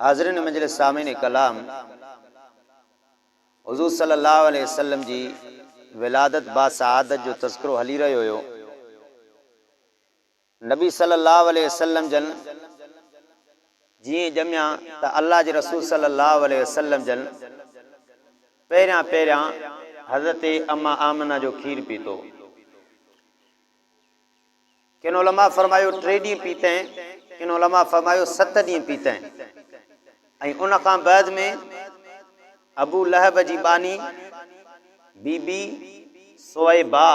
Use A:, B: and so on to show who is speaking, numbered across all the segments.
A: حاضرين مجلس سامعين ڪلام حضور صلي الله عليه وسلم جي ولادت با سعادت جو تذڪرو هلي رهيو هيو نبي صلي الله عليه وسلم جن جيئن ڄميا ته الله جي رسول صلي الله عليه وسلم جن پهريان پهريان حضرت اما آمنه جو کير پيتو ڪن علماء فرمايو ٽي ڏينهن پيتئين، ڪن علماء فرمايو ست ڏينهن پيتئين ۽ ان کان بعد ۾ ابو لهب جي ٻانهي بي بي صويبه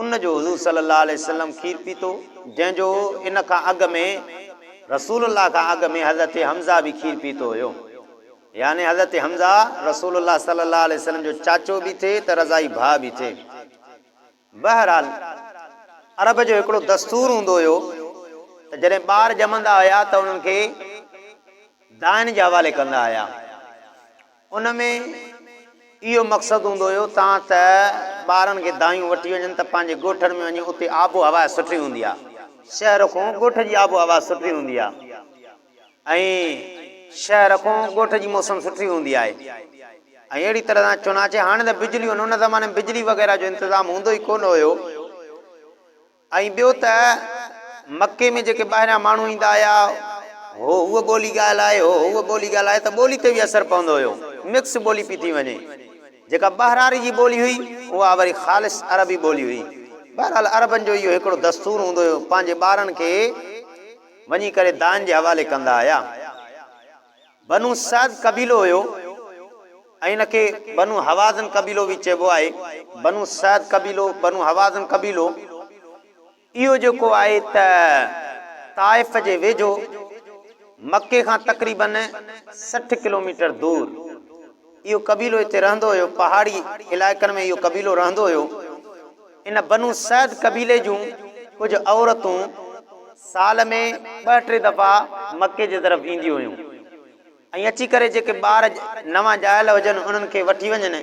A: ان جو حضور صلي الله عليه وسلم کير پيتو جنهن جو ان کان اڳ ۾ رسول الله کان اڳ ۾ حضرت حمزه به کير پيتو هيو يعني حضرت حمزه رسول الله صلي الله عليه وسلم جو چاچو به ٿي ته رضائي ڀاء به ٿي بهرحال عرب جو هڪڙو دستور هوندو هيو ته جڏهن ٻار ڄمندا هيا ته انهن کي دائن جي حوالي ڪندا هيا. ان ۾ اهو مقصد هوندو هيو ته ها ته ٻارن کي دايون وٺي وڃن ته پنهنجي ڳوٺن ۾ وڃي اتي آب و هوا سٺي هوندي آهي. شهر کون ڳوٺ جي آب و هوا سٺي هوندي آهي. ۽ شهر کان ڳوٺ جي موسم سٺي هوندي آهي ۽ اهڙي طرح سان چنانچه هاڻي ته بجليون ان زماني ۾ بجلي وغيره جو انتظام هوندو ئي ڪونه هيو ۽ ٻيو ته مڪي ۾ جيڪي ٻاهريان ماڻهو ايندا آيا هو هوء ٻولي ڳالهائي هو هوء ٻولي ڳالهائي ته ٻولي تي به اثر پوندو هيو مڪس ٻولي پي ٿي وڃي جيڪا ٻهراڙي جي ٻولي هئي اها وري خالص عربي ٻولي هئي بهرحال عربن جو اهو هڪڙو دستور هوندو هيو پنهنجي ٻارن کي وڃي ڪري دان جي حوالي ڪندا هيا. بنو سعد قبيلو هيو ۽ ان کي بنو هوازن قبيلو به چئبو آهي. بنو سعد قبيلو، بنو هوازن قبيلو اهو جيڪو آهي ته طائف جي ويجهو مڪي کان تقريبن سٺ ڪلوميٽر دور. اهو قبيلو هتي رهندو هيو. پهاڙي علائقن ۾ اهو قبيلو رهندو هيو. ان بنو سعد قبيلي جون ڪجهه عورتون سال ۾ ٻه ٽي دفعا مڪي جي طرف اينديون هيون ۽ اچي ڪري جيڪي ٻار نوان ڄايل هجن انهن کي وٺي وڃن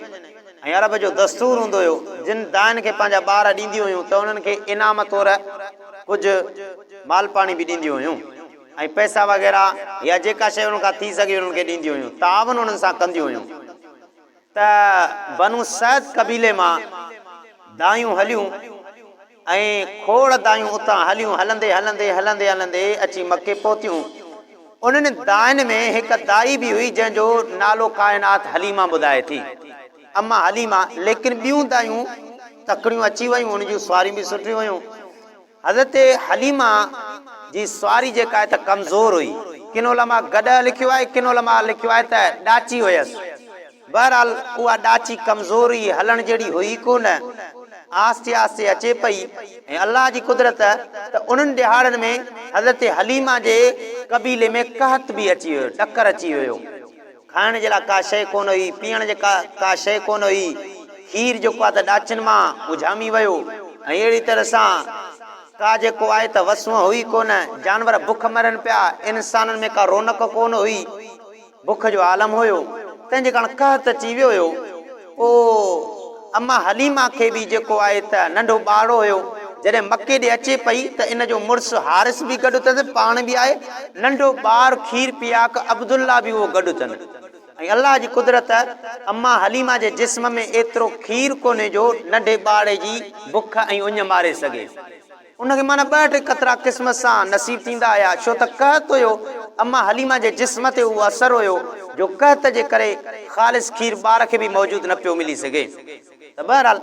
A: ۽ عرب جو دستور هوندو هيو جن دائن کي پنهنجا ٻار ڏينديون هيون ته انهن کي انعام طور ڪجهه مالپاڻي به ڏينديون هيون. ۽ پئسا وغيره يا جيڪا شيء انهن کان ٿي سگهي انهن کي ڏينديون هيون، تعاون انهن سان ڪنديون هيون ته بنو سعد قبيلي مان دانهيون هليون ۽ کوڙ دانهيون اتان هليون هلندي هلندي هلندي هلندي اچي مڪي پهتيون، انهن دانهين ۾ هڪ دائي به هئي جنهن جو نالو ڪائنات حليمه ٻڌائي ٿي، اما حليمه، ليڪن ٻيون دايون تڪڙيون اچي ويون ان جون سواريون به سٺيون هيون. حضرت حليمه جي سواري جيڪا آهي ته ڪمزور هئي. ڪن علماء گڏهه لکيو آهي، ڪن علماء لکيو آهي ته ڏاچي هيس. بهرحال اها ڏاچي ڪمزور هئي، هلڻ جهڙي هئي ئي ڪونه. آهستي آهستي اچي پئي ۽ الله جي قدرت ته انهن ڏهاڙن ۾ حضرت حليمه جي قبيلي ۾ قحط به اچي ويو، ڏڪر اچي ويو. کائڻ جي لاء ڪا شيء ڪونه هئي، پيئڻ جي ڪا ڪا شيء ڪونه هئي. کير جيڪو آهي ته ڏاچن مان اجهامي ويو ۽ اهڙي طرح سان ڪا جيڪو آهي ته وس هونء هئي ڪونه. جانور بک مرن پيا، انسانن ۾ ڪا رونق ڪونه هئي. بک جو عالم هيو، تنهن جي ڪاڻ قحط اچي ويو هيو. پوء اما حليمه کي به جيڪو آهي ته ننڍو ٻارڙو هيو، جڏهن مڪي ڏي اچي پئي ته ان جو مڙس حارث به گڏ اٿس، پاڻ به آهي، ننڍو ٻار کير پياڪ عبدالله به اهو گڏ اٿن ۽ الله جي قدرت اما حليمه جي جسم ۾ ايترو کير ڪونهي جو ننڍي ٻارڙي جي بک ۽ اڃ ماري سگهي. ان کي معنيٰ ٻه ٽي قطرا قسمت سان نصيب ٿيندا هيا، ڇو ته قحط هيو، اما حليمه جي جسم تي اهو اثر هيو جو قحط جي ڪري خالص کير ٻار کي به موجود نه پيو ملي سگهي ته بهرحال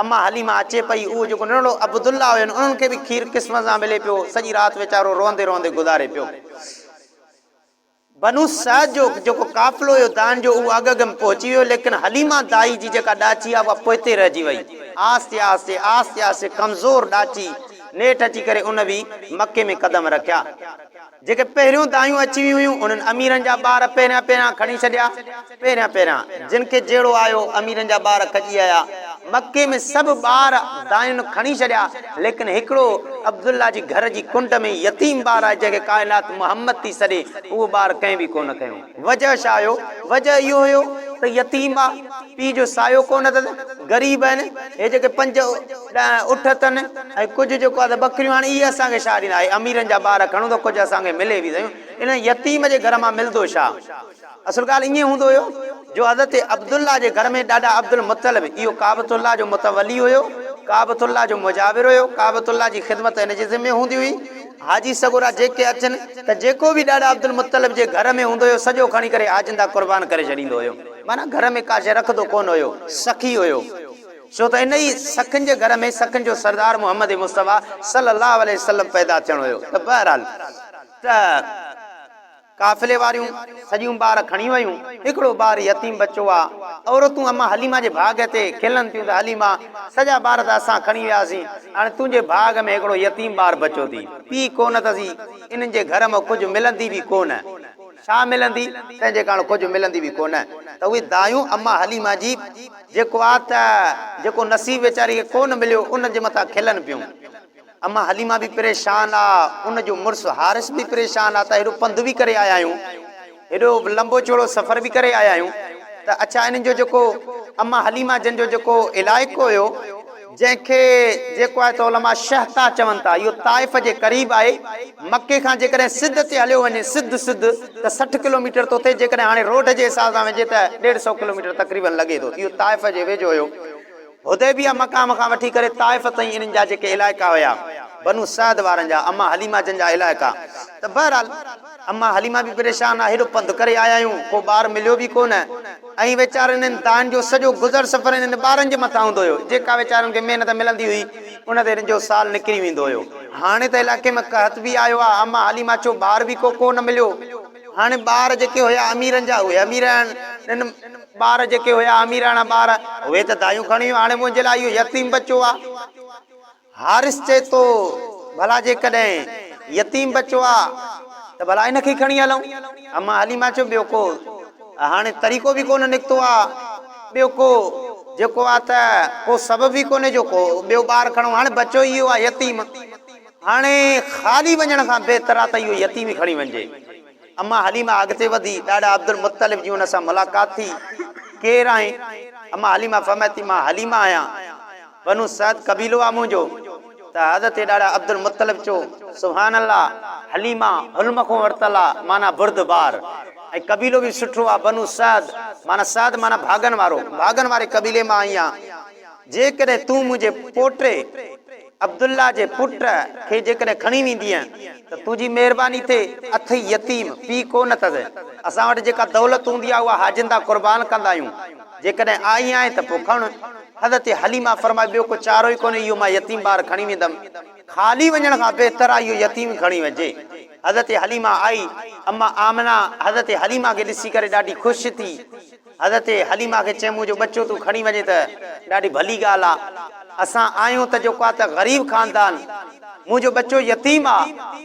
A: اما حليمه اچي پئي، اهو جيڪو ننڍڙو عبدالله هين انهن کي به کير قسمت سان ملي پيو، سڄي رات ويچارو روئندي روئندي گذاري پيو. بنو سعد جو جيڪو قافلو هيو دان جو اهو اڳ اڳ ۾ پهچي ويو ليڪن حليمه دائي جي جيڪا ڏاچي آهي اها پوئتي رهجي وئي. آهستي آهستي آهستي آهستي ڪمزور ڏاچي نيٺ اچي ڪري ان به مڪي ۾ قدم رکيا. جيڪي پهريون دايون اچي ويون هيون انهن اميرن جا ٻار پهريان پهريان کڻي ڇڏيا. پهريان پهريان جن کي جهيڙو آيو، اميرن جا ٻار کڄي آيا. مڪي ۾ سڀ ٻار دانهن کڻي ڇڏيا، ليڪن هڪڙو عبدالله جي گهر جي ڪنڊ ۾ يتيم ٻار آهي، جنهن کي ڪائنات محمد ٿي سڏي، اهو ٻار ڪنهن به ڪو نه کنيو. وجهه ڇا هيو؟ وجهه اهو هيو ته يتيم آ، پيء جو سايو ڪو نه اٿس، غريب آهن، هي جيڪي پنج ڏهه اٺ اٿن ۽ ڪجهه جيڪو آهي ته ٻڪريون، هاڻي اهي اسان کي ڇا ڏيندا؟ هي اميرن جا ٻار کڻون ته ڪجهه اسان کي ملي به سهيون، انهن يتيم جي گهر مان ملدو ڇا؟ اصل ڳالهه ائين هوندو هيو جو حضرت عبدالله جي گهر ۾ ڏاڏا عبدالمطلب اهو ڪعبة الله جو متولي هيو، ڪعبة الله جو مجاور هيو، ڪعبة الله جي خدمت هن جي ذمي هوندي هئي. حاجي سڳورا جيڪي اچن ته جيڪو به ڏاڏا عبدالمطلب جي گهر ۾ هوندو هيو سڄو کڻي ڪري حاجين ڏانهن قربان ڪري ڇڏيندو هيو. معنيٰ گهر ۾ ڪا شيء رکندو ڪونه هيو، سخي هيو. ڇو ته انهيء سخين جي گهر ۾ سخين جو سردار محمد مصطفيٰ صلّي اللّٰه عليه وسلّم پيدا ٿيڻو هيو ته بهرحال ته. قافلي واريون سڄيون ٻار کڻي ويون. هڪڙو ٻار يتيم بچو آ. عورتون امان حليمه جي ڀاڳ تي کلن ٿيون ته حليمه سڄا ٻار ته اسان کڻي وياسين، هاڻي تنهنجي ڀاڳ ۾ هڪڙو يتيم ٻار بچو ٿي. پيء ڪونه اٿسي، انهن جي گهر مان ڪجهه ملندي به ڪونه. ڇا ملندي؟ تنهن جي ڪاڻ ڪجهه ملندي به ڪونه ته اهي دايون امان حليمه جي جيڪو آ ته جيڪو نصيب ويچاري کي ڪونه مليو ان جي مٿان کلن پيون. اما حليمه به پريشان آ، ان جو مڙس حارث به پريشان آ ته هيڏو پنڌ به ڪري آيا آهيون، هيڏو لنبو چوڙو سفر به ڪري آيا آهيون ته اڇا انهن جو جيڪو اما حليمه جن جو جيڪو علائقو هيو، جنهن کي جيڪو آهي ته علماء شهطا چون ٿا، اهو طائف جي قريب آهي، مڪي کان جيڪڏهن سڌ تي هليو وڃي، سڌ سڌ، ته سٺ ڪلوميٽر ٿو ٿئي، جيڪڏهن هاڻي روڊ جي حساب سان وڃجي ته ڏيڍ سئو ڪلوميٽر تقريبن لڳي ٿو، اهو طائف جي ويجهو هيو. حديبيه مقام کان وٺي ڪري طائف تائين انهن جا جيڪي علائقا هيا بنو سعد وارن جا اما حليمه جن جا علائقا ته بهرحال اما حليمه به پريشان آ هيڏو پنڌ ڪري آيا آهيون ڪو ٻار مليو به ڪو نه ۽ ويچارن انهن دانهن جو سڄو گذر سفر انهن ٻارن جي مٿان هوندو هيو جيڪا ويچارن کي محنت ملندي هئي ان تي انهن جو سال نڪري ويندو هيو هاڻي ته علائقي ۾ قحط به آيو آ اما حليمه چيو ٻار به ڪو ڪو نه مليو هاڻي ٻار جيڪي هيا اميرن جا اهي امير آهن انهن ٻار جيڪي هيا اميراڻا ٻار، اهي ته دايون کڻيون، هاڻي منهنجي لاء اهو يتيم ٻچو آ. حارث چئي ٿو، ڀلا جيڪڏهن يتيم ٻچو آ ته ڀلا هن کي ئي کڻي هلون. اما حليمه چيو، ٻيو ڪو هاڻي طريقو به ڪونه نڪتو آ، ٻيو ڪو جيڪو آ ته ڪو سبب ئي ڪونهي جو ڪو ٻيو ٻار کڻون، هاڻي ٻچو ئي اهو آ يتيم، هاڻي خالي وڃڻ کان بهتر آ ته اهو يتيم ئي کڻي وڃجي. اما حليمه اڳتي وڌي، ڏاڏا عبدالمطلب جي هن سان ملاقات ٿي، ڪير آهين؟ اما حليمه فرمائي ٿي، مان حليمه آهيان، بنو سعد قبيلو آهي منهنجو، ته حضرت ڏاڏا عبدالمطلب چيو، سبحان الله، حليمه حلم کان ورتل آهي، معنيٰ بردبار، ۽ قبيلو به سٺو آهي، بنو سعد، معنيٰ سعد معنيٰ ڀاڳن وارو، ڀاڳن واري قبيلي مان آئي آهيان، جيڪڏهن تون منهنجي پوٽي، عبدالله جي پٽ کي جيڪڏهن کڻي ويندينء ته تنهنجي مهرباني ٿئي، اٿئي يتيم، پيء ڪونه اٿس، اسان وٽ جيڪا دولت هوندي آهي اها حاجين تان قربان ڪندا آهيون، جيڪڏهن آئي آهين ته پوء کڻ. حضرت حليمه فرمايو، ٻيو ڪو چارو ئي ڪونهي، اهو مان يتيم ٻار کڻي ويندم، خالي وڃڻ کان بهتر آهي اهو يتيم کڻي وڃجي. حضرت حليمه آئي، اما آمنه حضرت حليمه کي ڏسي ڪري ڏاڍي خوش ٿي. حضرت حليمه کي چيم منهنجو ٻچو تون کڻي وڃين ته ڏاڍي ڀلي ڳالهه آ. اسان آهيون ته جيڪو آ ته غريب خاندان. منهنجو ٻچو يتيم آ.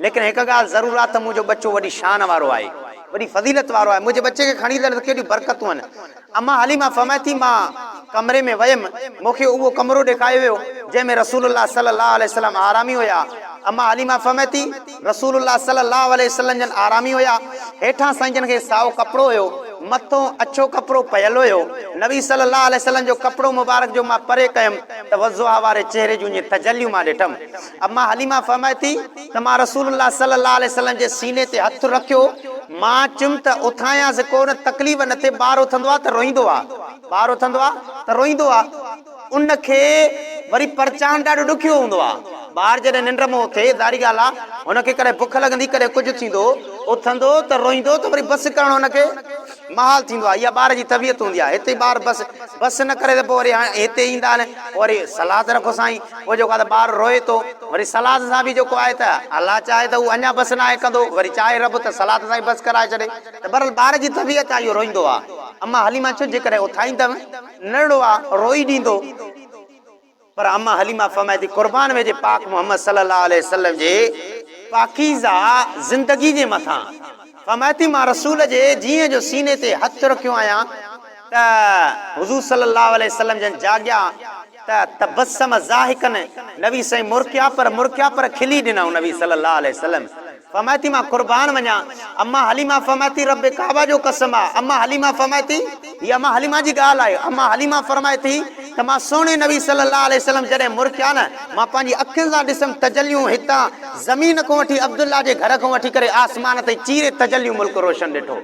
A: ليڪن هڪ ڳالهه ضرور آ ته منهنجو ٻچو وڏي شان وارو آهي. وڏي فضيلت وارو آهي. منهنجي ٻچي کي کڻي هلڻ ته ڪيڏيون برڪتون آهن. اما حليمه فرمائي ٿي مان ڪمري ۾ ويم. مون کي اهو ڪمرو ڏيکايو ويو جنهن ۾ رسول الله صلي الله عليه وسلم آرامي هيا. اما حليمه فرمائي ٿي. رسول الله صلي الله عليه وسلم جن آرامي هيا، هيٺان سائين جن کي سائو ڪپڙو هيو، مٿون اڇو ڪپڙو پيل هيو. نبي صلي الله عليه وسلم جو ڪپڙو مبارڪ جو مان پري ڪيم ته وضحيٰ واري چهري جون ائين تجليون مان ڏٺم. اما حليمه فرمائي ٿي ته مان رسول الله صلي الله عليه وسلم جي سيني تي هٿ رکيو، مان چيم ته اٿايانس ڪو نه تڪليف نه ٿئي، ٻار اٿندو آ ته روئيندو آ، ٻار اٿندو آ ته روئيندو آ. ان کي وري پرچائڻ ڏاڍو ڏکيو هوندو آهي. ٻار جڏهن ننڊ مان اٿي، ظاهري ڳالهه آهي، هن کي ڪڏهن بک لڳندي، ڪڏهن ڪجهه ٿيندو، اٿندو ته روئيندو ته وري بس ڪرڻ هن کي محال ٿيندو آهي. اها ٻار جي طبيعت هوندي آهي. هتي ٻار بس بس نه ڪري ته پوء وري هاڻي هتي ايندا نه، پوء وري صلاح ته رکو سائين، پوء جيڪو آهي ته ٻار روئي ٿو، وري صلاح ته صاحبي جيڪو آهي ته الله چاهي ته هو اڃا بس ناهي ڪندو، وري چاهي رب ته صلاح ته سائين بس ڪرائي ڇڏي. ته بهرحال ٻار جي طبيعت آهي اهو روئيندو آهي. اما حليما چيو جيڪڏهن اٿائيندم. نڙوا روئي ڏيندو پر اما حليمه فرمائي ٿي قربان ويجهي پاڪ محمد صلي الله عليه وسلم جي پاڪيزه زندگي جي مٿان فرمائي ٿي مان رسول جي جيئن جو سيني تي هٿ رکيو آهيان ته حضور صلي الله عليه وسلم جن جاڳيا ته تبسم ضاحڪا نبي سائين مرڪيا پر مرڪيا پر کلي ڏنائون نبي صلي الله عليه وسلم فرمائي ٿي مان قربان وڃان. اما حليمه فرمائي ٿي رب ڪعبه جو قسم آ. اما حليمه فرمائي ٿي. هي اما حليمه جي ڳالهه آهي. اما حليمه فرمائي ٿي ته مان سهڻي نبي صلي الله عليه وسلم جڏهن مرڪيا نه مان پنهنجي اکين سان ڏسم تجليون هتان زمين کون وٺي عبدالله جي گهر کون وٺي ڪري آسمان تائين چيري تجليون ملڪ روشن ڏٺو.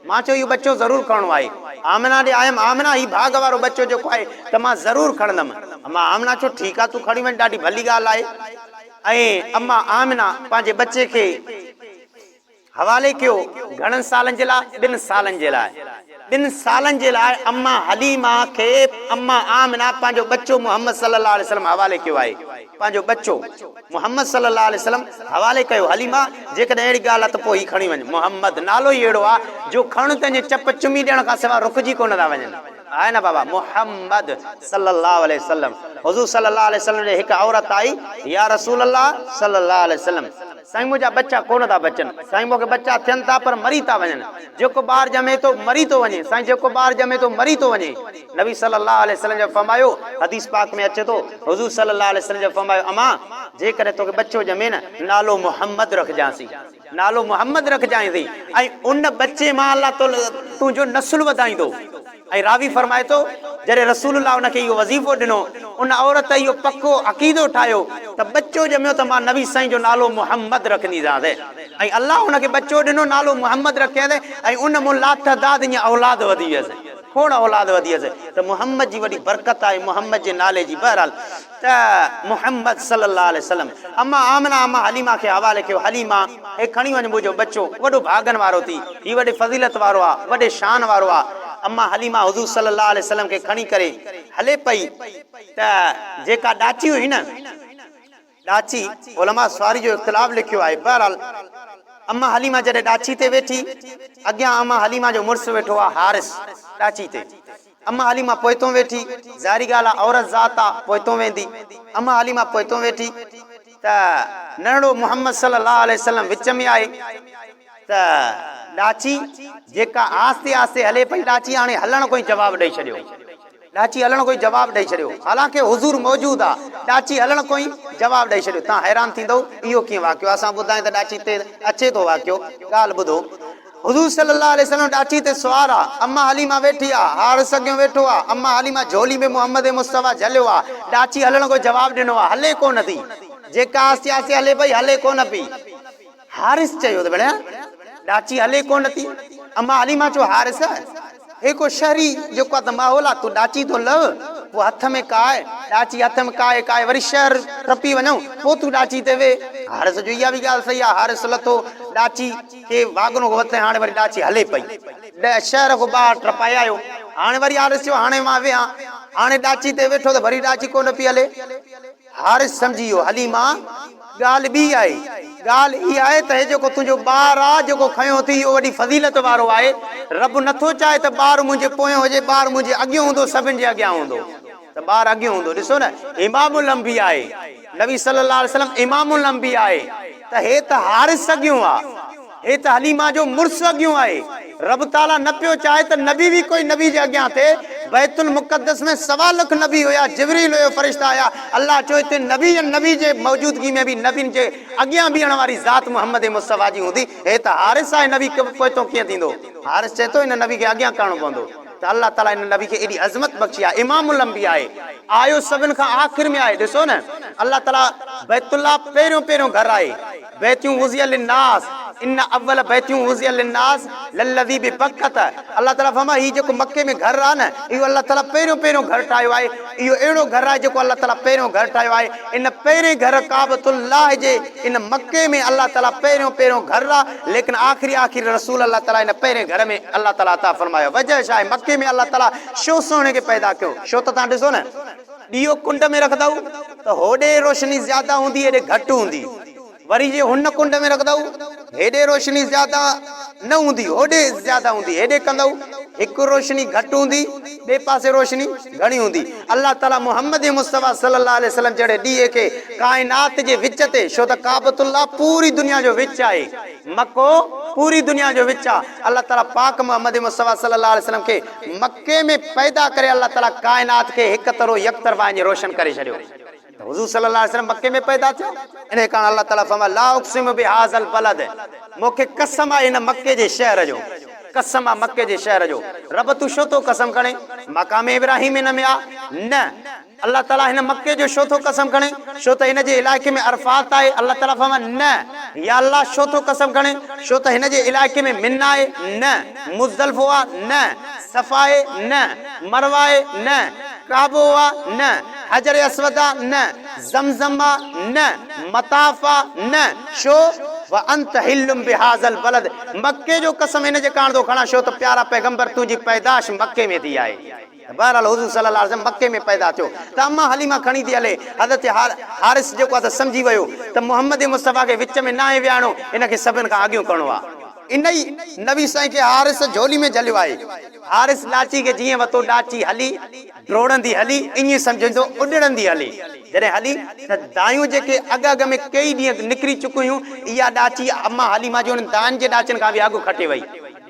A: مان چيو اهو ٻچو ضرور کڻڻو آهي. آمنه ڏي آيم آمنه هي ڀاڳ وارو ٻچو جيڪو آهي ته مان ضرور کڻندم. اما آمنه چيو ٺيڪ آ تون کڻي وڃ ڏاڍي ڀلي ڳالهه آهي. ۽ اما آمنه پنهنجي ٻچي کي حوالي ڪيو گهڻن سالن جي لاء؟ ٻن سالن جي لاء. ٻن سالن جي لاء اما حليمه کي اما آمنه پنهنجو ٻچو محمد صلي الله عليه وسلم حوالي ڪيو آهي. پنهنجو ٻچو محمد صلي الله عليه وسلم حوالي ڪيو حليمه جيڪڏهن اهڙي ڳالهه آهي ته پوء هي کڻي وڃ. محمد نالو ئي اهڙو آهي جو کڻ ته ائين چپ چمي ڏيڻ کان سواء رڪجي ڪونه ٿا وڃن. آهي نه بابا محمد صلي الله عليه وسلم حضور صلي الله عليه وسلم ڏي هڪ عورت آئي يا رسول الله صلي الله عليه وسلم سائين منهنجا ٻچا ڪونه ٿا بچن سائين مون کي ٻچا ٿين ٿا پر مري ٿا وڃن جيڪو ٻار ڄمي ٿو مري ٿو وڃي سائين جيڪو ٻار ڄمي ٿو مري ٿو وڃي نبي صلي الله عليه وسلم جو فرمايو حديث پاڪ ۾ اچي ٿو حضور صلي الله عليه وسلم جو فرمايو امان جيڪڏهن توکي ٻچو ڄمي نه نالو محمد رکجانسي نالو محمد رکجانء ٿي ۽ ان ٻچي مان الله تعالي تنهنجو نسل وڌائيندو ۽ راوي فرمائي ٿو جڏهن رسول الله ان کي اهو وظيفو ڏنو ان عورت اهو پڪو عقيدو ٺاهيو ته ٻچو ڄميو ته مان نبي سائين جو نالو محمد رکنديسانس ۽ الله ان کي ٻچو ڏنو نالو محمد رکيس ۽ ان مون لاتعداد ايئن اولاد وڌي ويس کوڙ اولاد وڌي ويس ته محمد جي وڏي برڪت آهي محمد جي نالي جي بهرحال ته محمد صلي الله عليه وسلم اما آمنه اما حليمه کي حوالي ڪيو حليمه! هي کڻي وڃ منهنجو ٻچو وڏو ڀاڳن وارو ٿي هي وڏي فضيلت وارو آ وڏي شان وارو آ اما حليمه حضور صلي الله عليه وسلم کي کڻي ڪري هلي پئي ته جيڪا ڏاچي هئي نه ڏاچي علماء سواري جو اختلاف لکيو آهي بهرحال اما حليمه جڏهن ڏاچي تي ويٺي اڳيان اما حليمه جو مڙس ويٺو آ حارث ڏاچي تي اما حليمه پوئتون ويٺي، ظاهري ڳالهه آ عورت ذات آ پوئتون ويندي. اما حليمه پوئتون ويٺي ته ننڍڙو محمد صلي الله عليه وسلم وچ ۾ آهي ته ڏاچي جيڪا آهستي آهستي هلي پئي ڏاچي هاڻي هلڻ ڪو ئي جواب ڏئي ڇڏيو ڏاچي هلڻ ڪو ئي جواب ڏئي ڇڏيو حالانڪه حضور موجود آ ڏاچي هلڻ ڪو ئي جواب ڏئي ڇڏيو تان حيران ٿيندؤ اهو ڪيئن واقعو آ اسان ٻڌائين ته ڏاچي تي اچي ٿو واقعو ڳالهه ٻڌو. حضور صلي الله عليه وسلم ڏاچي تي سوار آ، اما حليمه ويٺي آ، هاڙس اڳيون ويٺو آ، اما حليمه جهولي ۾ محمد مصطفيٰ جهليو آ، ڏاچي هلڻ ڪو جواب ڏنو آ، هلي ڪونه ٿي، جيڪا آستي آستي هلي پئي، هلي ڪونه پئي، هاڙس چيو ته ڀيڻيا ڏاچي هلي ڪونه ٿي، اما حليمه چيو هاڙس! هي ڪو شهري جيڪو اڌ ماحول آ تون ڏاچي ٿو لهه پوء هٿ ۾ ڪاء ڏاچي هٿ ۾ ڪاء ڪاء وري شهر ٽپي وڃون پوء تون ڏاچي تي ويهه حارث جو اها به ڳالهه صحيح آ حارث لٿو ڏاچي کي واڳنو هو وٿي هاڻي وري ڏاچي هلي پئي ڏهه شهر کان ٻاهر ٽپائي آيو هاڻي وري حارث چيو هاڻي مان ويهان هاڻي ڏاچي تي ويٺو ته وري ڏاچي ڪونه پئي هلي. حارث سمجهي ويو، حليمه ڳالهه ٻي آهي، ڳالهه اها آهي ته هي جيڪو تنهنجو ٻار آ، جيڪو کنيو اٿئي، اهو وڏي فضيلت وارو آهي، رب نه ٿو چاهي ته ٻار منهنجي پويان هجي، ٻار منهنجي اڳيون هوندو، سڀن جي اڳيان هوندو ته ٻار اڳيون هوندو، ڏسو نه امام الانبياء آهي، نبي صلّي اللّٰه عليه وسلّم امام الانبياء آهي ته هي ته حارث اڳيون آ. اي ته حليمه جو مڙس اڳيون آهي. رب تعاليٰ نه پيو چاهي ته نبي وي ڪوئي نبي جي اڳيان ٿئي. بيت المقدس ۾ سوا لک نبي هيا، جبريل هيو، فرشتا هيا. الله چوي ته نبي ۽ نبي جي موجودگي ۾ به نبين جي اڳيان بيهڻ واري ذات محمد مصطفيٰ جي هوندي. هي ته حارث آهي نبي پوئتو ڪيئن ٿيندو؟ حارث چئي ٿو هن نبي کي اڳيان ڪرڻو پوندو ته الله تعاليٰ هن نبي کي ايڏي عظمت بخشي آهي. امام الانبياء آهي. آيو سڀن کان آخر ۾ آهي. ڏسو نه الله تعاليٰ بيت الله پهريون پهريون گهر آهي. بيتون وضع للناس ان اول بيتون وضع للناس للذي ببڪة الله تعالي فرمايو هي جيڪو مڪي ۾ گهر آهي نه اهو الله تعالي پهريون پهريون گهر ٺاهيو آهي اهو اهڙو گهر آهي جيڪو الله تعالي پهريون گهر ٺاهيو آهي ان پهرين گهر ڪعبة الله جي ان مڪي ۾ الله تعالي پهريون پهريون گهر آهي ليڪن آخري آخري رسول الله تعالي ان پهرين گهر ۾ الله تعالي عطا فرمايو وجه ڇا آهي مڪي ۾ الله تعالي شو سهڻي کي پيدا ڪيو شو ته تهان ڏسو نه ڏيئو ڪنڊ ۾ رکندؤ ته هوڏي روشني زياده هوندي هيڏي گهٽ هوندي، وري جي هن ڪنڊ ۾ رکندؤ هيڏي روشني زياده نه هوندي هوڏي زياده هوندي، هيڏي ڪندؤ هڪ روشني گهٽ هوندي ٻئي پاسي روشني گهڻي هوندي. الله تعاليٰ محمد مصطفيٰ صلّي اللّٰه عليه وسلّم جهڙي ڏيئي کي ڪائنات جي وچ تي ڇو ته ڪعبة الله پوري دنيا جو وچ آهي، مڪو پوري دنيا جو وچ آهي، الله تعاليٰ پاڪ محمد مصطفيٰ صلّي اللّٰه عليه وسلّم کي مڪي ۾ پيدا ڪري الله تعالي ڪائنات کي هڪ طرح يڪ طرفا اڃ روشن ڪري ڇڏيو ته حضور صلي الله عليه وسلم مڪي ۾ پيدا ٿيو انهي ڪارڻ الله تعالي فرمايو لا اقسم بهذا البلد مون کي قسم آهي هن مڪي جي شهر جو قسم آهي مڪي جي شهر جو رب تون ڇو ٿو قسم کڻين مقام ابراهيم هن ۾ آ نه الله تعاليٰ هن مڪي جو ڇو ٿو قسم کڻي؟ ڇو ته هن جي علائقي ۾ عرفات آهي. الله تعاليٰ فرمايو، نه. يا الله ڇو ٿو قسم کڻي؟ ڇو ته هن جي علائقي ۾ منيٰ آهي؟ نه. مزدلفو آهي؟ نه. صفا آهي؟ نه. مروه آهي؟ نه. ڪعبو آهي؟ نه. حجر اسود آهي؟ نه. زمزم آهي؟ نه. مطاف آهي؟ نه. ڇو؟ وانت حل بهذا البلد مڪي جو قسم ان جي ڪاڻ ٿو کڻان ڇو ته پيارا پيغمبر تنهنجي پيدائش مڪي ۾ ٿي آهي. بهرحال حضور صلي الله عليه وسلم مڪي ۾ پيدا ٿيو ته اما حليمه کڻي ٿي هلي، حضرت حارث جيڪو آهي ته سمجهي ويو ته محمد مصطفيٰ کي وچ ۾ ناهي ويهارڻو، ان کي سڀن کان اڳيون ڪرڻو آهي. انهي نبي سائين کي حارث جهولي ۾ جهليو آهي. حارث ڏاچي کي جيئن وتو ڏاچي هلي، ڊوڙندي هلي، ائين سمجهندو اڏڙندي هلي. جڏهن هلي ته دانهيون جيڪي اڳ اڳ ۾ ڪيئي ڏينهن نڪري چڪيون هيون، اها ڏاچي اما حليمه جي انهن دانهن جي ڏاچن کان به اڳ کٽي وئي.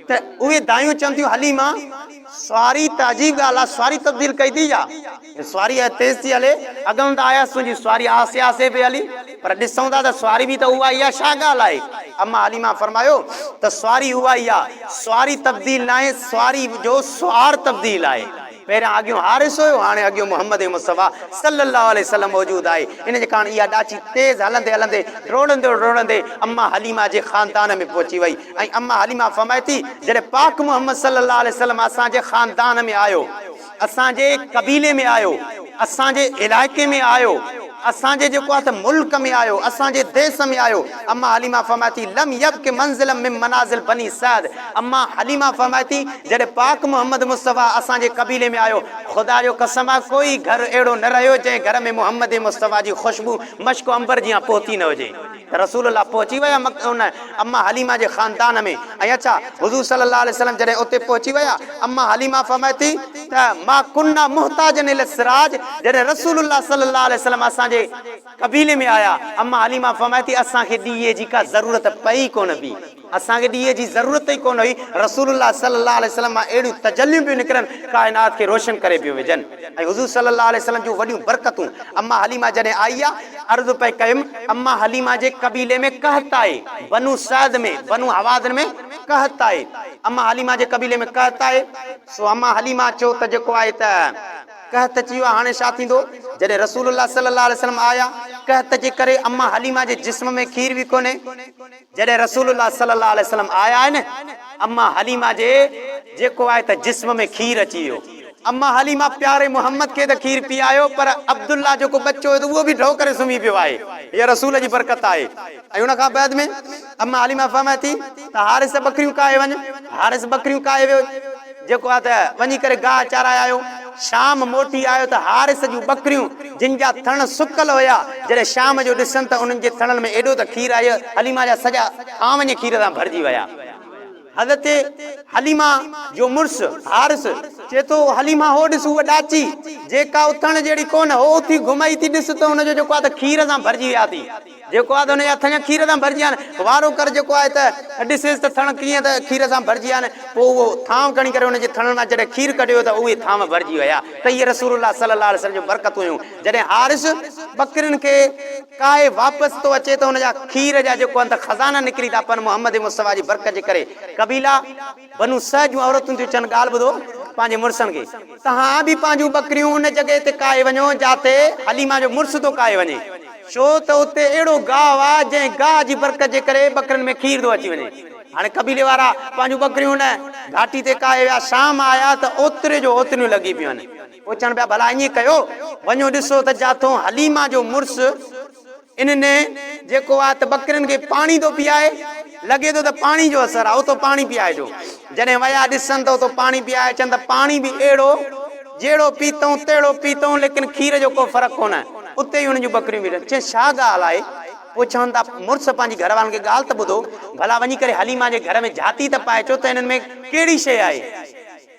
A: ته اهي دايون چون ٿيون هلي مان سواري ته عجيب ڳالهه آ سواري تبديل ڪئي ٿي ڇا؟ سواري اهي تيز ٿي هلي اڳئون ته آهياس تنهنجي سواري آهستي آهستي پئي هلي پر ڏسون ٿا ته سواري به ته اها ئي آ ڇا ڳالهه آهي؟ اما حليمه فرمايو ته سواري اها ئي آ سواري تبديل ناهي سواري جو سوار تبديل آهي. پهريان اڳيون حارث هيو، هاڻي اڳيون محمد مصطفيٰ صلّي اللّٰه عليه وسلّم موجود آهي. ان جي ڪاڻ اها ڏاچي تيز هلندي هلندي ڊوڙندي ڊوڙندي اما حليمه جي خاندان ۾ پهچي وئي ۽ اما حليمه فرمائي ٿي، جڏهن پاڪ محمد صلّي اللّٰه عليه وسلّم اسان جي خاندان ۾ آيو، اسان جي قبيلي ۾ آيو، اسان جي علائقي ۾ آيو، اسان جي جيڪو آهي ته ملڪ ۾ آيو، اسان جي ديس ۾ آيو. اما حليمه فرمائي ٿي، لم يبق منزلا من منازل بني سعد اما حليمه فرمائي ٿي، جڏهن پاڪ محمد مصطفيٰ اسان جي قبيلي ۾ آيو، خدا جو قسم آهي ڪوئي گهر اهڙو نه رهيو جنهن گهر ۾ محمد مصطفيٰ جي خوشبو مشڪ و عنبر جيان پهتي نه هجي. ته رسول الله پهچي ويا مڪه ان امّا حليمه جي خاندان ۾ ۽ اڇا حضور صلّي اللّٰه عليه وسلّم جڏهن اتي پهچي ويا امّا حليمه فرمائي ٿي ته ما ڪنا محتاجن الي السراج جڏهن رسول الله صلّي اللّٰه عليه وسلّم اسان جي قبيلي ۾ آيا امّا حليمه فرمائي ٿي اسان کي ڏيئي جي ڪا ضرورت پئي ڪونه ٿي. اسان کي ڏيئي جي ضرورت ئي ڪونه هئي، رسول الله صلي الله عليه وسلم مان اهڙيون تجليون پيون نڪرن، ڪائنات کي روشن ڪري پيون وجهن ۽ حضور صلي الله عليه وسلم جون وڏيون برڪتون اما حليمه جڏهن آئي آ، عرض پئي ڪيم، اما حليمه جي قبيلي ۾ قحط آهي، بنو سعد ۾ بنو هوازن ۾ قحط آهي، اما حليمه جي قبيلي ۾ قحط آهي، سو اما حليمه چيو ته جيڪو آهي ته قحط اچي ويو آهي هاڻي ڇا ٿيندو، جڏهن رسول الله صلي الله عليه وسلم آيا، قحط جي ڪري اما حليمه جي جسم ۾ کير به ڪونهي. جڏهن رسول الله صلي الله عليه وسلم آيا آهن اما حليمه جي جيڪو آهي ته جسم ۾ کير اچي ويو اما حليمه پياري محمد کي ته کير پيايو پر عبدالله جيڪو ٻچو هيو ته اهو به ڍؤ ڪري سمهي پيو آهي هيء رسول جي برڪت آهي ۽ ان کان بعد ۾ اما حليمه فرمائي ٿي ته حارث ٻڪريون ڪاهي وڃ حارث ٻڪريون ڪاهي ويو. جيڪو آ ته وڃي ڪري گاهه چارائي آيو. شام موٽي آيو ته حارث جون ٻڪريون جن جا ٿڻ سڪل هيا، جڏهن شام جو ڏسن ته انهن جي ٿڻن ۾ ايڏو ته کير آهي ته حليمه جا سڄا ٿان وڃي کير سان ڀرجي ويا. حضرت حليمه جو مڙس حارث. چئي ٿو، او حليمه! هو ڏس هوء ڏاچي، جيڪا اٿڻ جهڙي ڪونه، هو اٿي گهمئي ٿي ڏس ته ان جو جيڪو آ ته کير سان ڀرجي ويا ٿي. جيڪو آهي ته ان جا ٿڃ کير سان ڀرجي آهن. وارو ڪر جيڪو آهي ته ڏسيس ته ٿڻ ڪيئن ته کير سان ڀرجي آهن. پوء اهو ٿانو کڻي ڪري ان جي ٿڻن مان جڏهن کير ڪڍيو ته اهي ٿانو ڀرجي ويا ته اهي رسول الله صلي الله عليه وسلم جون برڪتون هيون. جڏهن حارث ٻڪرين کي ڪاهي واپس ٿو اچي ته ان جا کير جا جيڪو آهن ته خزانا نڪري ٿا پون محمد مصطفيٰ جي برڪت جي ڪري قبيلا بنو سعد جون عورتون ٿيون چون، ڳالهه ٻڌو پنهنجي مڙسن کي، توهان به پنهنجون ٻڪريون ان جڳهه تي ڪاهي وڃو، جاتي حليمه جو مڙس ٿو ڪاهي وڃي، ڇو ته اتي اهڙو گاهه آهي، جنهن گاهه جي برڪت جي ڪري ٻڪرين ۾ کير ٿو اچي وڃي. هاڻي قبيلي وارا پنهنجون ٻڪريون ان گهاٽي تي ڪاهي ويا، شام آيا ته اوتري جو اوتريون لڳي پيون آهن. پوء چون پيا، ڀلا ائين ڪيو، وڃو ڏسو ته جاتون حليمه جو مڙس، انهن ۾ جيڪو آهي ته ٻڪرين کي پاڻي ٿو پيئائي. لڳي ٿو ته پاڻي جو اثر آهي. اتو پاڻي پيئائجو. جڏهن ويا ڏسن ته اتو پاڻي پيئائي اچن ته پاڻي به اهڙو جهڙو پيتئون تهڙو پيتئون ليڪن کير جو ڪو فرق ڪونه. اتي ئي انهن جون ٻڪريون به رهن. چين ڇا ڳالهه آهي؟ پوء چون ٿا مڙس پنهنجي گهر وارن کي ڳالهه ته ٻڌو. ڀلا وڃي ڪري حليمه جي گهر ۾ جهاتي ته پائي اچو ته انهن ۾ ڪهڙي شيء آهي؟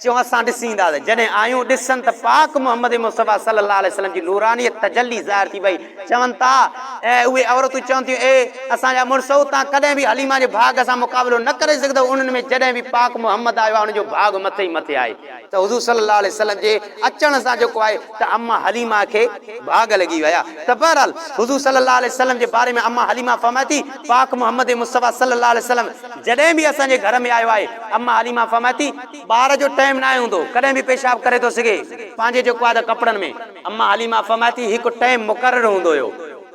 A: چيو اسان ڏسين ٿا ته جڏهن آيون ڏسن ته پاڪ محمد مصطفيٰ صلّي اللّٰه عليه وسلّم جي نورانيت تجلّي ظاهر ٿي پئي چون ٿا ۽ اهي عورتون چون ٿيون اي اسان جا مڙسو توهان ڪڏهن به حليمه جي ڀاڳ سان مقابلو نه ڪري سگهندؤ انهن ۾ جڏهن به پاڪ محمد آيو آهي انهن جو ڀاڳ مٿي ئي مٿي آهي ته حضور صلّي اللّٰه عليه وسلّم جي اچڻ سان جيڪو آهي ته اما حليمه کي ڀاڳ لڳي ويا ته بهرحال حضور صلّي اللّٰه عليه وسلّم جي باري ۾ اما حليمه فرمائي ٿي پاڪ محمد مصطفيٰ صلّي اللّٰه عليه وسلّم جڏهن به اسان جي گهر ۾ آيو آهي، اما حليمه فرمائي ٿي، ٻار جو ٽيم ناهي هوندو، ڪڏهن به پيشاب ڪري ٿو سگهي. پنهنجي جيڪو آهي ته ڪپڙن ۾. اما حليمه فرمائي ٿي، هڪ ٽيم مقرر هوندو هيو.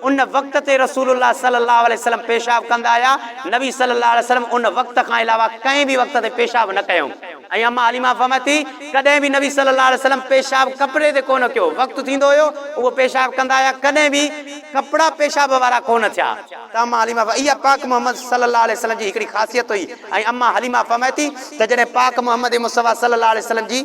A: ان وقت تي رسول الله صلي الله عليه وسلم پيشاب ڪندا هيا. نبي صلي الله عليه وسلم ان وقت کان علاوه ڪنهن به وقت تي پيشاب نه ڪيائون. ۽ اما حليمه فرمائي ٿي، ڪڏهن به نبي صلي الله عليه وسلم پيشاب ڪپڙي تي ڪونه ڪيو. وقت ٿيندو هيو، اهو پيشاب ڪندا هيا، ڪڏهن به ڪپڙا پيشاب وارا ڪونه ٿيا. تمام عالي ماء اها پاڪ محمد صلي الله عليه وسلم جي هڪڙي خاصيت هئي ۽ اما حليمه فرمائي ٿي ته جڏهن پاڪ محمد مصطفيٰ صلي الله عليه وسلم جي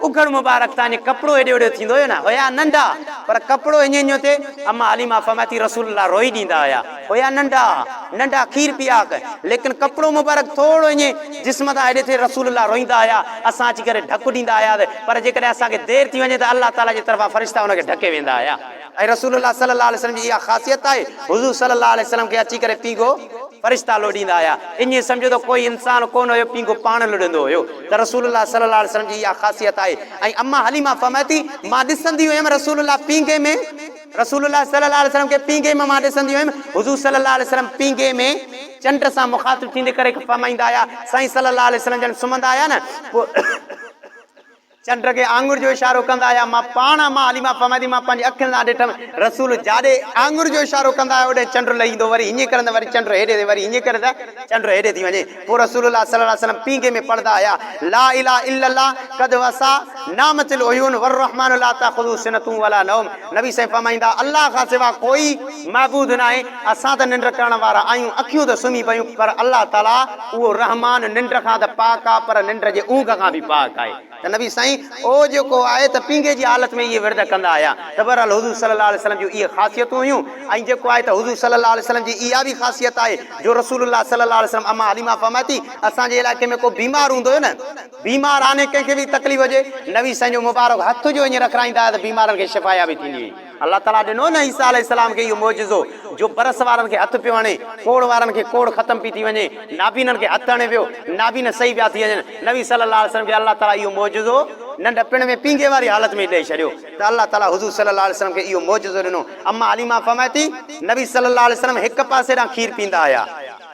A: اگهڙ مبارڪ تان جيئن ڪپڙو هيڏي هوڏي ٿيندو هيو نه هيا ننڍا پر ڪپڙو هڃيون هڃيون ٿئي اما حليمه فرمائي ٿي رسول الله روئي ڏيندا هيا هيا ننڍا ننڍا کير پياڪ ليڪن ڪپڙو مبارڪ ٿورڙو هڃي جسم تان هيڏي ٿئي رسول الله روئيندا هيا اسان اچي ڪري ڍڪ ڏيندا هياس پر جيڪڏهن اسان کي دير ٿي وڃي ته الله تعالي جي طرفان فرشتا ان کي ڍڪي ويندا هيا. ۽ رسول الله صلي الله عليه وسلم جي اها خاصيت آهي حضور صلي الله عليه وسلم کي اچي ڪري پينگهو فرشتا لوڏيندا هيا ائين سمجهو ته ڪوئي انسان ڪونه هيو پينگهو پاڻ لڏندو هيو ته رسول الله صلي الله عليه وسلم جي اها خاصيت آهي ۽ اما حليمه فرمائي ٿي مان ڏسندي هيم رسول الله پينگهي ۾ رسول الله صلي الله عليه وسلم کي پينگهي ۾ مان ڏسندي هيم حضور صلي الله عليه وسلم پينگهي ۾ چنڊ سان مخاطب ٿيندي ڪري فرمائيندا هيا سائين صلي الله عليه وسلم جڏهن سمهندا هيا نه پوء چنڊ کي آڱر جو اشارو ڪندا هيا مان پاڻ امان حليمه فرمائتي مان پنهنجي اکين سان ڏٺم رسول جاڏي آڱر جو اشارو ڪندا هيا اوڏانهن چنڊ لهيندو وري هينئين ڪرن ته وري چنڊ هيڏي ٿي وري هينئين ڪرن ته چنڊ هيڏي ٿي وڃي پوء رسول الله صلي الله عليه وسلم پينگهي ۾ پڙهندا هيا لا اله الا الله قد وسع نامت العيون والرحمان لا تاخذه سنة ولا نوم نبي سائين فرمائيندا الله کان سوا ڪوئي معبود ناهي اسان ته ننڊ ڪرڻ وارا آهيون، اکيون ته سمهي پيون، پر الله تعاليٰ اهو رحمان ننڊ کان ته پاڪ آهي پر ننڊ جي اونگهه کان به پاڪ آهي ته نبي سائين او جيڪو آهي ته پينگهي جي حالت ۾ اهي ورد ڪندا هيا ته بهرحال حضور صلي الله عليه وسلم جون اهي خاصيتون هيون ۽ جيڪو آهي ته حضور صلي الله عليه وسلم جي اها به خاصيت آهي جو رسول الله صلي الله عليه وسلم اما حليمه فرمائي ٿي اسان جي علائقي ۾ ڪو بيمار هوندو هيو نه بيمار آني ڪنهن کي به تڪليف هجي نبي سائين جو مبارڪ هٿ جو ائين رکرائيندا هيا ته بيمارن کي شفايابي ٿيندي هئي. الله تعاليٰ ڏنو نه عيسيٰ عليه السلام کي اهو معجزو جو برس وارن کي هٿ پيو هڻي، ڪوڙ وارن کي ڪوڙ ختم پي ٿي وڃي، نابينن کي هٿ هڻي پيو، نابينا صحيح پيا ٿي وڃن، نبي صلّي اللّٰه عليه وسلّم کي الله تعاليٰ اهو معجزو ننڍپڻ ۾ پينگهي واري حالت ۾ ئي ڏئي ڇڏيو ته الله تعاليٰ حضور صلّي اللّٰه عليه وسلّم کي اهو معجزو ڏنو، امّا حليمه فرمائي ٿي، نبي صلّي اللّٰه عليه وسلّم هڪ پاسي ڏانهن کير پيندا هيا.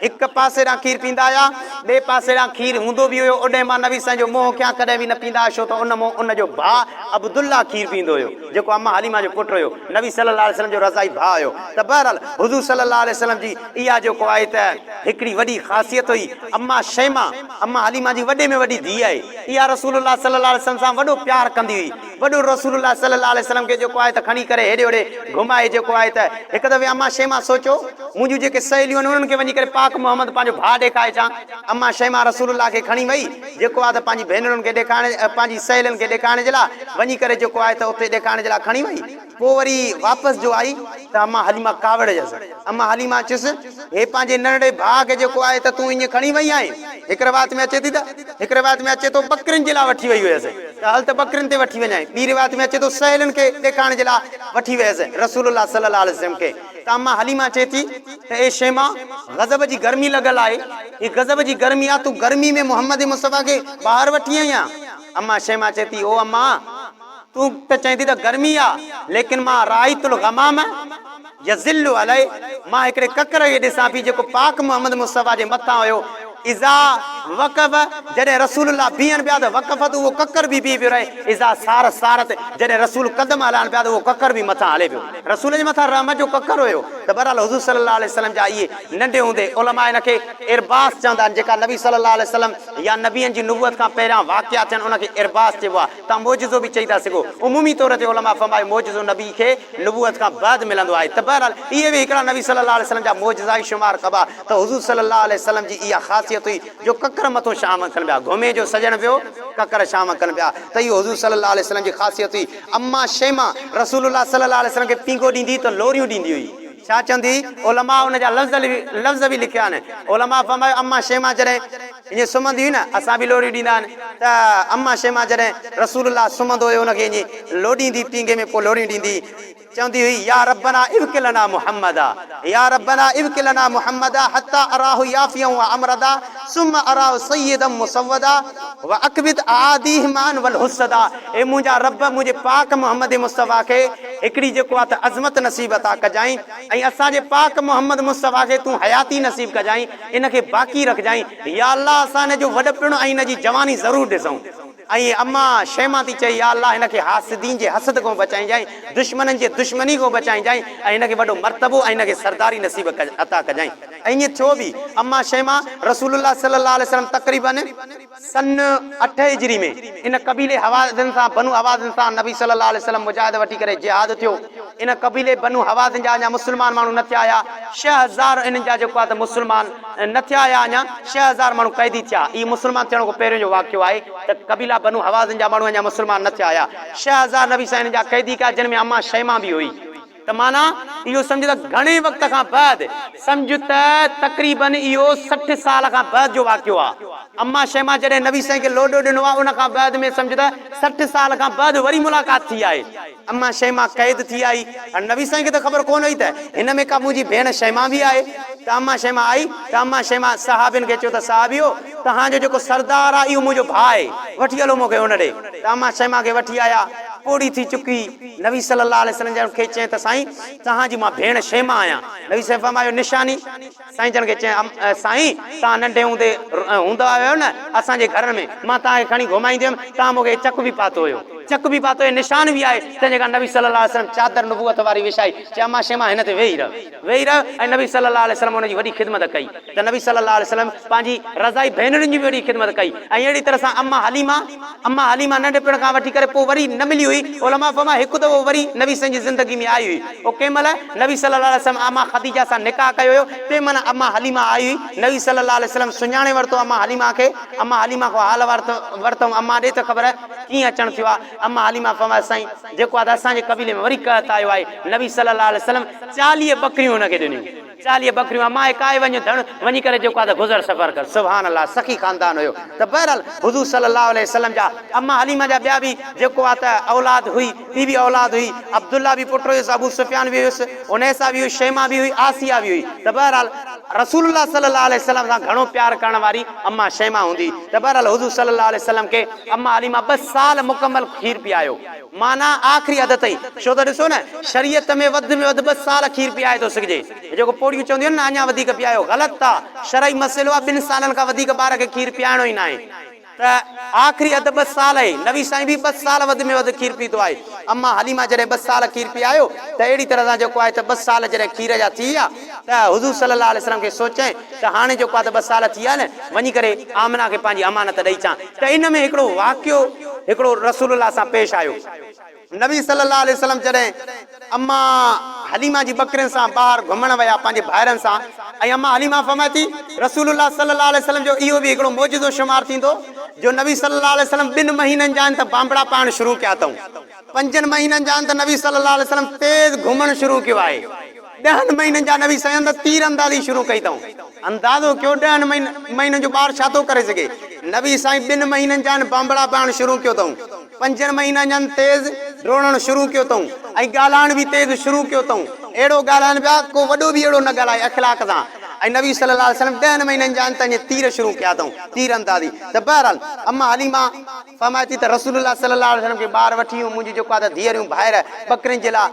A: هڪ پاسي ڏانهن کير پيندا هيا، ٻئي پاسي ڏانهن کير هوندو به هيو، اوڏهين مان نبي سائين جو منهن کيان ڪڏهن به نه پيندا هيا ڇو ته ان منهن ان جو ڀاء عبدالله کير پيندو هيو جيڪو اما حليمه جو پٽ هيو نبي صلي الله عليه وسلم جو رضائي ڀاء هيو ته بهرحال حضور صلي الله عليه وسلم جي اها جيڪو آهي ته هڪڙي وڏي خاصيت هئي اما شيمه اما حليمه جي وڏي ۾ وڏي ڌيء آهي اها رسول الله صلي الله عليه وسلم سان وڏو پيار ڪندي هئي. وڏو رسول الله صلي الله عليه وسلم کي جيڪو آهي ته کڻي ڪري هيڏي هوڏي گهمائي جيڪو آهي ته هڪ دفعي اما شيماء سوچيو مون جون جيڪي سهيليون آهن انهن کي وڃي ڪري پاڪ محمد پنهنجو ڀاء ڏيکاري اچان اما شيماء رسول الله کي کڻي وئي جيڪو آهي ته پنهنجي ڀينرن کي ڏيکارڻ پنهنجي سهيلين کي ڏيکارڻ جي لاء وڃي ڪري جيڪو آهي ته اتي ڏيکارڻ جي لاء کڻي وئي پوء وري واپس جو آئي ته اما حليمه ڪاوڙيس. اما حليمه چيس، هي پنهنجي ننڍڙي ڀاء کي جيڪو آهي ته تون ايئن کڻي وئي آهين. هڪ روايت ۾ اچي ٿي ته هڪ روايت ۾ اچي ٿو ٻڪرين جي لاء وٺي وئي هيس ته هل ته ٻڪرين تي وٺي وڃانء. ٻي روايت ۾ اچي ٿو سهيلين کي ڏيکارڻ جي لاء وٺي ويس رسول الله صلي الله عليه وسلم کي ته اما حليمه چئي ٿي ته اي شيماء! غضب جي گرمي لڳل آهي. هي غضب جي گرمي آهي تون گرمي ۾ محمد مصطفيٰ کي ٻاهر وٺي آئين آهين. اما شيماء چئي ٿي، او اما! تون ته چئين ٿي ته گرمي آ ليڪن مان رائيت الغمام يظل عليه مان هڪڙي ڪڪر کي ڏسان پي جيڪو پاڪ محمد مصطفيٰ جي مٿان هيو اذا وقف جڏهن رسول الله بيهن پيا ته وقفت اهو ڪڪر به بيهي پيو رهي اذا سار سارت جڏهن رسول قدم هلائن پيا ته اهو ڪڪر به مٿان هلي پيو رسول جي مٿان رحمت جو ڪڪر هيو ته بهرحال حضور صلي الله عليه وسلم جا اهي ننڍي هوندي علماء هن کي ارباس چوندا آهن جيڪا نبي صلي الله عليه وسلم يا نبين جي نبوت کان پهريان واقعا ٿين ان کي ارباس چئبو آهي. تان معجزو به چئي ٿا سگهو. عمومي طور تي علماء فرمايو معجزو نبي کي نبوت کان بعد ملندو آهي ته بهرحال اهي به هڪڙا نبي صلي الله عليه وسلم جا معجزا ئي شمار ڪبا ته حضور صلي الله عليه وسلم جي اها خاصيت هئي جو ڪڪر مٿو شام ڪن پيا گهمي جو سڄڻ پيو ڪڪر شام ڪن پيا ته اهو حضور صلي الله عليه وسلم جي خاصيت هئي اما شيما رسول الله صلي الله عليه وسلم کي پينگو ڏيندي ته لوريون ڏيندي هئي. ڇا چوندي هئي علماء ان جا لفظ به لکيا آهن علماء فرمايو اما شيما جڏهن. ائين سمهندي هئي نه، اسان به لوڏيون ڏيندا هئن ته اما شيما جڏهن رسول الله سمهندو هيو ان کي ائين لوڏيندي پينگهي ۾ ڪو لوڏيون ڏيندي چوندي هئي يا ربنا ابق لنا محمدا يا ربنا ابق لنا محمدا حتي اراه يافيا وامردا ثم اراه سيدا مسودا واكبد اعاديه معا والحسدا اي منهنجا رب منهنجي پاڪ محمد مصطفيٰ کي هڪڙي جيڪو آهي ته عظمت نصيب عطا ڪجانء ۽ اسان جي پاڪ محمد مصطفيٰ کي تون حياتي نصيب ڪجانء ان کي باقي رکجانء يا الله اسان هن جو وڏپڻ ۽ هن جي جواني ضرور ڏسون ۽ اما شيما ٿي چئي يا الله هن کي حاسدين جي حسد کون بچائينجانء دشمنن جي دشمني کون بچائينجانء ۽ هن کي وڏو مرتبو ۽ هن کي سرداري نصيب عطا ڪجانء ۽ ائين ٿيو به اما شيما رسول الله صلي الله عليه وسلم تقريبن سن اٺ هجري ۾ ان قبيلي هوازن سان، بنو هوازن سان، نبي صلي الله عليه وسلم مجاهد وٺي ڪري جهاد ٿيو. ان قبيلي بنو هوازن جا اڃا مسلمان ماڻهو نه ٿيا هيا. ڇهه هزار انهن جا جيڪو آهي ته مسلمان نه ٿيا هيا اڃا ڇهه هزار ماڻهو قيدي ٿيا. هي مسلمان ٿيڻ کان پهريون جو واقعو آهي ته قبيلا بنو هوازن جا ماڻهو اڃا مسلمان نه ٿيا هيا. ڇهه هزار نبي صلي الله عليه وسلم انهن جا قيدي ڪيا جن ۾ اما شيماء به هئي. ته معنيٰ اهو سمجهه ته گهڻي وقت کان بعد سمجهه ته تقريباً اهو سٺ سال کان بعد جو واقعو آ. اما شيما جڏهن نبي سائين کي لوڏو ڏنو آ ان کان بعد ۾ سمجهه ته سٺ سال کان بعد وري ملاقات ٿي آهي. اما شيما قيد ٿي آئي. هاڻي نبي سائين کي ته خبر ڪونه هئي ته هن ۾ ڪا منهنجي ڀيڻ شيما به آهي. ته اما شيما آئي ته اما شيما صحابين کي چيو ته صحابيو توهان جو جيڪو سردار آ اهو منهنجو ڀاء آهي وٺي هلو مون کي هن ڏي. ته اما شيما کي وٺي آيا. پوڙهي ٿي چڪي. نبي صلّي اللّٰه عليه وسلّم جنھن کي چين ته سائين توھان جي مان ڀيڻ شيما آھيان، نبي صلّي فرمايو نشاني؟ سائين جن کي چين سائين توھان ننڍي ھوندي ھوندا ھيو نه اسان جي گھر ۾ مان توھان کي کڻي گھمائيندي ھيم توھان مون کي ھي چڪ به پاتو ھيو، چڪ به پاتو ھي نشان به آھي تنھن جي ڪري نبي صلّي اللّٰه عليه وسلّم چادر نبوت واري وڇائي چيو اما شيما ھن تي ويھي رھه. ويهي رهيو ۽ نبي صلّي اللّٰه عليه وسلّم ان جي وڏي خدمت ڪئي ته نبي صلّي اللّٰه عليه وسلّم پنهنجي رضاعي ڀينرين جي به وڏي خدمت ڪئي ۽ اهڙي طرح سان اما حليمه اما حليمه ننڍپڻ کان وٺي ڪري پوء وري نه ملي هئي علماء فرمايو هڪ دفعو وري نبي صلّي جي زندگي ۾ آئي هئي اهو ڪنهن مهل نبي صلّي اللّٰه عليه وسلّم اما خديجه سان نڪاح ڪيو هيو تنهن مهل اما حليمه آئي هئي نبي صلّي اللّٰه عليه وسلّم سڃاڻي ورتو اما حليمه کي اما حليمه کان حال احوال ورتم اما ڏي ته خبر ڪيئن اچڻ ٿيو آهي اما حليمه فرمايو سائين جيڪو آ ته اسان جي قبيلي ۾ وري قحط آيو آهي نبي صلي الله عليه وسلم چاليهه ٻڪريون ان کي ڏنيون چاليهه ٻڪريون اما اهي ڪاهي وڃ ڌڻ وڃي ڪري جيڪو آ ته گذر سفر ڪر سبحان الله سخي خاندان هيو ته بهرحال حضور صلي الله عليه وسلم جا اما حليمه جا ٻيا به جيڪو آ ته اولاد هئي ٻي به اولاد هئي عبدالله به پٽ هيس ابو سفيان به هيس انيسه به هئي شيمه به هئي آسيه به هئي ته بهرحال رسول الله صلي الله عليه وسلم سان گهڻو پيار ڪرڻ واري اما شيمه هوندي ته بهرحال حضور صلي الله عليه وسلم کي. اما عليما ٻه سال مڪمل کير پيايو معنيٰ آخري حد تائين ڇو ته ڏسو نه شريعت ۾ وڌ ۾ وڌ ٻه سال کير پيائي ٿو سگهجي ۽ جيڪو پوڙهيون چونديون آهن نه اڃا وڌيڪ پيايو غلط آ شرعي مسئلو آ ٻن سالن کان وڌيڪ ٻار کي کير پيائڻو ئي ناهي ته آخري حد ٻه سال آهي نبي سائين به ٻه سال وڌ ۾ وڌ کير پيتو آهي اما حليما جڏهن ٻه سال کير پيايو ته اهڙي طرح سان جيڪو آهي ته ٻه سال جڏهن کير جا ٿي ويا. ته حضور صلي الله عليه وسلم کي سوچيائين ته هاڻي جيڪو آ ته ٻه سال ٿي آ نه، وڃي ڪري آمنه کي پنهنجي امانت ڏئي اچان ته ان ۾ هڪڙو واقعو هڪڙو رسول الله سان پيش آيو. نبي صلي الله عليه وسلم جڏهن اما حليمه جي ٻڪرين سان ٻاهر گهمڻ ويا پنهنجي ڀائرن سان ۽ اما حليمه فرمائي ٿي رسول الله صلي الله عليه وسلم جو اهو به هڪڙو معجزو شمار ٿيندو جو نبي صلي الله عليه وسلم ٻن مهينن جا آهن ته بانبڙا پائڻ شروع ڪيا اٿئون، پنجن مهينن جا آهن ته نبي صلي الله عليه وسلم تيز گهمڻ شروع ڪيو آهي. ڏهن مهينن جا نوي سيان ته تير اندازي شروع ڪئي اٿئون. اندازو ڪيو ڏهن مهينن جو ٻار ڇا ٿو ڪري سگهي. نوي سائين ٻن مهينن جا ان بانبڙا پائڻ شروع ڪيو اٿئون. پنجن مهينن جا ان تيز ڊوڙڻ شروع ڪيو اٿئون ۽ ڳالهائڻ به تيز شروع ڪيو اٿئون. اهڙو ڳالهائين پيا ڪو وڏو به اهڙو نه ڳالهائي اخلاق سان ۽ نبي صلي الله عليه وسلم ڏهن مهينن جا ان ته اڃا تير شروع ڪيا اٿئون تير اندازي ته بهرحال اما حليمه فرمائي ٿي ته رسول الله صلي الله عليه وسلم کي ٻار وٺي منهنجي جيڪو آ ته ڌيئريون ڀائر ٻڪرين جي لاء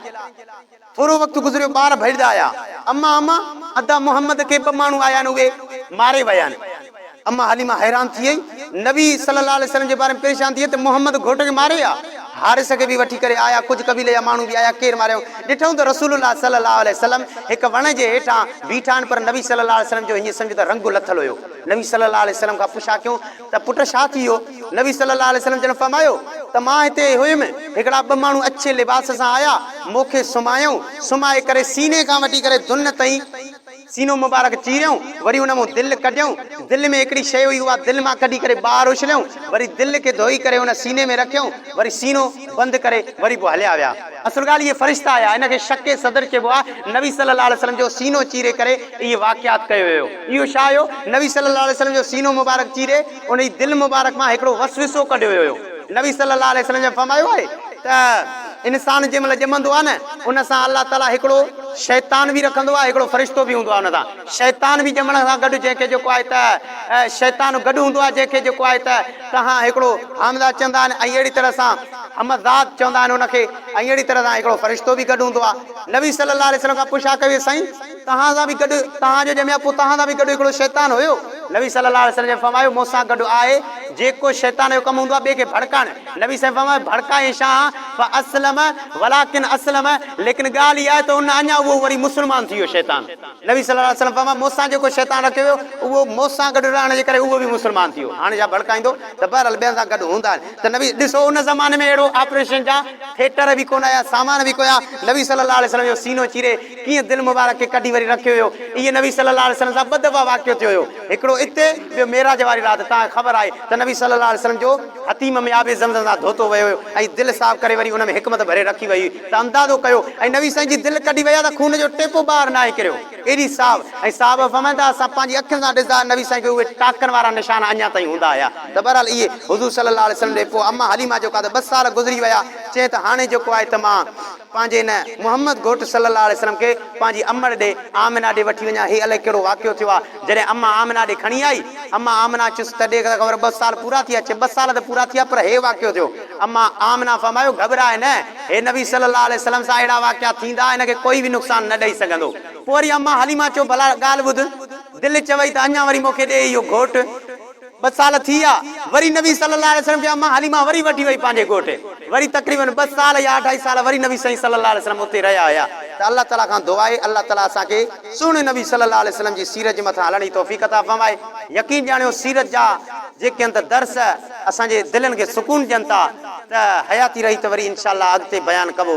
A: ٿورو وقت گذريو ٻار ڀڄدا آيا اما اما ادا محمد کي ٻه ماڻهو آيا آهن اهي ماري ويا آهن اما حليمه حيران ٿي وئي نبي صلي الله عليه وسلم جي باري ۾ پريشان ٿي وئي ته محمد گهوٽ کي ماري آ حارث کي به وٺي ڪري آيا ڪجهه قبيلي جا ماڻهو به آيا ڪير ماريائون ڏٺائون ته رسول الله صلي الله عليه وسلم هڪ وڻ جي هيٺان بيٺا آهن پر نبي صلي الله عليه وسلم جو هيئن سمجهه ته رنگ لٿل هيو نبي صلي الله عليه وسلم کان پڇا ڪيون ته پٽ ڇا ٿي ويو؟ نبي صلي الله عليه وسلم جن فرمايو ته مان هتي ئي هيم، هڪڙا ٻه ماڻهو اڇي لباس سان آيا، مون کي سمهايائون، سمهائي ڪري سيني کان وٺي ڪري دن تائين سينو مبارڪ چيريائون، وري ان مان دل ڪڍيائون، دل ۾ هڪڙي شيء هئي اها دل مان ڪڍي ڪري ٻاهر اڇليائون، وري دل کي ڌوئي ڪري ان سيني ۾ رکيائون، وري سينو بند ڪري وري پوء هليا ويا. اصل ڳالهه اهي فرشتا هيا، ان کي شق صدر چئبو آهي، نبي صلي الله عليه وسلم جو سينو چيري ڪري اهي واقعات ڪيو ويو، اهو ڇا هيو؟ نبي صلي الله عليه وسلم جو سينو مبارڪ چيري ان جي دل مبارڪ مان هڪڙو وسوسو ڪڍيو ويو هيو، نبي صلي الله عليه وسلم جن فرمايو آهي ته انسان جنهن مهل ڄمندو آهي نه ان سان الله تعالي هڪڙو شيطان به رکندو آهي هڪڙو فرشتو به هوندو آهي ان سان شيطان به ڄمڻ سان گڏ جنهن کي جيڪو آهي ته شيطان گڏ هوندو آهي جنهن کي جيڪو آهي ته تهان هڪڙو حامده چوندا آهن ۽ اهڙي طرح سان همزاد چوندا آهن ان کي ۽ اهڙي طرح سان هڪڙو فرشتو به گڏ هوندو آهي. نبي صلي الله عليه وسلم کان پڇا ڪئي وئي سائين! توهان سان به گڏ توهان جو ڄميا پوء توهان سان به گڏ هڪڙو شيطان هيو؟ نبي صلي الله عليه وسلم جن فرمايو مون سان گڏ آهي جيڪو شيطان جو ڪم هوندو آهي ٻئي کي ڀڙڪائڻ. نبي صلي الله عليه وسلم فرمايو ڀڙڪائين شان فاسلم ولڪن اسلم ليڪن ڳالهه اها آهي ته ان اڃا اهو وري مسلمان ٿي ويو شيطان. نبي صلي الله عليه وسلم فرمايو مون سان جيڪو شيطان رکيو ويو اهو مون سان گڏ رهڻ جي ڪري اهو به مسلمان ٿي ويو هاڻي جا ڀڙڪائيندو ته بهرحال ٻين سان گڏ هوندا آهن ته نبي ڏسو ان زماني ۾ اهڙو آپريشن جا ٿيٽر به ڪونه هيا سامان به ڪويا نبي صلي الله عليه وسلم جو سينو چيري ڪيئن دل مبارڪ کي ڪڍي وري رکيو ويو اهي نبي صلي الله عليه وسلم سان ٻه دفعا واقعو ٿيو هيو هڪڙو اتي ٻيو معراج واري رات توهان کي خبر آهي ته نبي صلي الله عليه وسلم جو حطيم ۾ آب زمزم سان ڌوتو ويو هيو ۽ دل صاف ڪري وري ان ۾ حڪمت ڀري رکي وئي هئي ته اندازو ڪيو ۽ نبي سائين جي دل ڪڍي ويا ته خون جو ٽيپو ٻاهر ناهي ڪريو ايڏي صاف ۽ صحابه فرمائن ٿا اسان پنهنجي اکين سان ڏسدا نبي سائين کي اهي ٽاڪن وارا نشان اڃا تائين هوندا هيا ته بهرحال اهي حضور صلي الله عليه وسلم ڏي پوء امه حليمه جيڪو آهي ته ٻه سال گذري ويا چئي ته هاڻي جيڪو آهي ته مان پنهنجي هن محمد گهوٽ صلي الله عليه وسلم کي پنهنجي امڙ ڏي آمنه ڏي وٺي وڃان هي الائي ڪهڙو واقعو ٿيو آهي جڏهن امه آمنه ڏي کڻي آئي امه آمنه چيس ته ڏيک ته خبر ٻه سال پورا ٿيا چي ٻه سال ته پورا ٿيا پر هي واقعو ٿيو اما آمنه فرمايو، گهٻراء نه، هي نبي صلّي اللّٰه عليه وسلّم سان اهڙا واقعا ٿيندا، هن کي ڪوئي به نقصان نه ڏئي سگهندو. پوء وري اما حليمه چيو، ڀلا ڳالهه ٻڌ، دل چوئي ته اڃا وري مون کي ڏي اهو گهوٽ. ٻه سال ٿي ويا، وري نبي صلّي اللّٰه عليه وسلّم کي اما حليمه وري وٺي وئي پنهنجي ڳوٺ. وري تقريباً ٻه سال يا اڍائي سال وري نبي سائين صلّي اللّٰه عليه وسلّم اتي رهيا هيا. ته الله تعالٰي کان دعا آهي، الله تعالٰي اسان کي سهڻي نبي صلّي اللّٰه عليه وسلّم جي سيرت جي مٿان هلڻ جي توفيق عطا فرمائي. يقين ڄاڻيو، سيرت جا جيڪي هنڌ درس. اسان جي دلين کي سڪون ڏين ٿا ته حياتي رهي ته وري انشاء الله اڳتي بيان ڪبو.